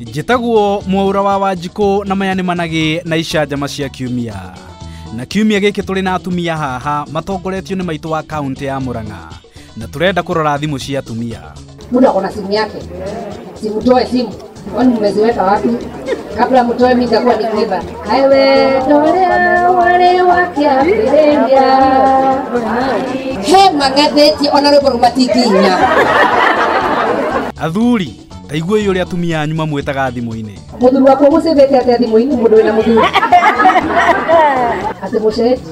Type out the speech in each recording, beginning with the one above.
njĩtagwo mwaura wa wanjikũ na maya nĩ managĩ na icanjama cia kiumia na kiumia gĩkĩ tũrĩ na atumia haha matongoretio nĩ maitũ wa kaunti ya mũrang'a na tũrenda kũrora thimũ cia atumia mtu ako na simu yake, simtoe simu, kwani mmeziweka wapi? Kabla mtoe, mimi nitakuwa nikiiba. he mang'athĩtie ona rwĩmbo rũmatinginya athuri ta iguai ũrĩa atumia anyu mamwĩtaga thimũ-inĩ mũthuri wakwa mũcĩthĩte atĩa thimũ-inĩ mũndũ wĩna mũthuri atĩ mũceti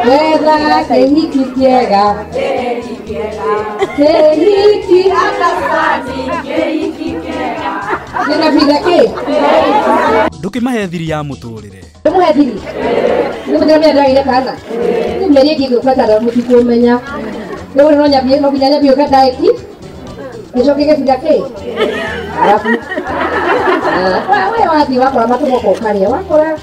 Etha kĩhiki kĩega kĩhiki nĩna bitha kĩ ndũkĩmahe thiri ya mũtũrĩre ndĩmũhe thiri nĩmũthĩra mĩenda ĩrĩa kana nĩmĩeri ĩngĩ ngũbatara mũtuku ũmenya rĩu no nyambie no nginya nyambie ũka ndaĩki gĩcoke gĩbitha kĩ arabu Ah, we wathiĩ wakora matũmoko ũkarĩa wakora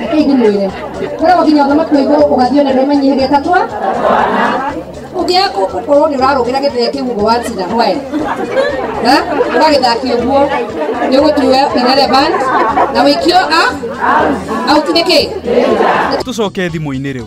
Reke ithi mwĩre kwĩra gũkinya ũthamaki wa igũrũ ũgathiĩ nĩ rũme nyihĩria ta twa ũngĩaga gũkorwo nĩ ũrarũgĩra gĩthee kĩu ũguo watina hwaĩ na ũgagĩthaki ũguo nĩ ũgũtuwe irrelevant na wĩkio a auti nĩ kĩ tũcoke thimũ-inĩ rĩu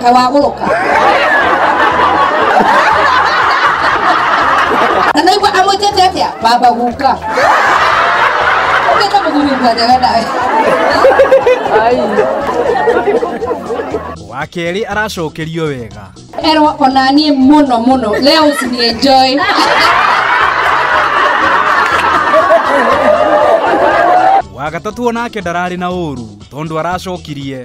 kaĩ wagũrũka na naigua amwĩtĩte atĩa baba guka ũkĩte mũthuri ngwanjaga nawe wa kerĩ aracokerio wega erwo onanie mũno mũno leo usinienjoy wa gatatũ onake ndararĩ na ũru tondũ aracokirie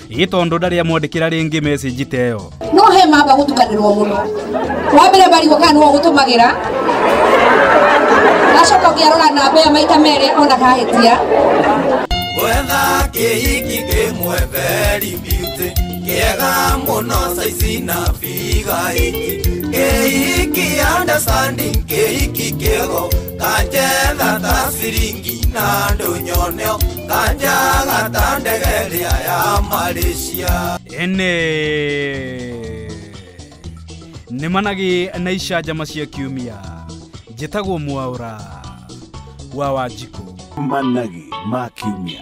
ĩ tondũ ndarĩ amwandĩkĩra rĩngĩ message ta ĩyo no he mamba gũtukanĩrwo mũno wa mbere marigũ kana nĩwe ũgũtũmagĩra gacoka ũkĩarora namba ĩyo maita merĩ ona kahĩtia wetha kĩhiki kĩmwe very beauty kĩega mũno saizi na bigaĩki kĩhiki understanding kĩhiki kĩgo kanjetha ta ciringi na ndũnyoneo Kanja gatandegeria ya Malaysia. ene nĩ managĩ na icanjama cia kiumia njĩtagwo mwaũra wa wanjikũ managi ma kiumia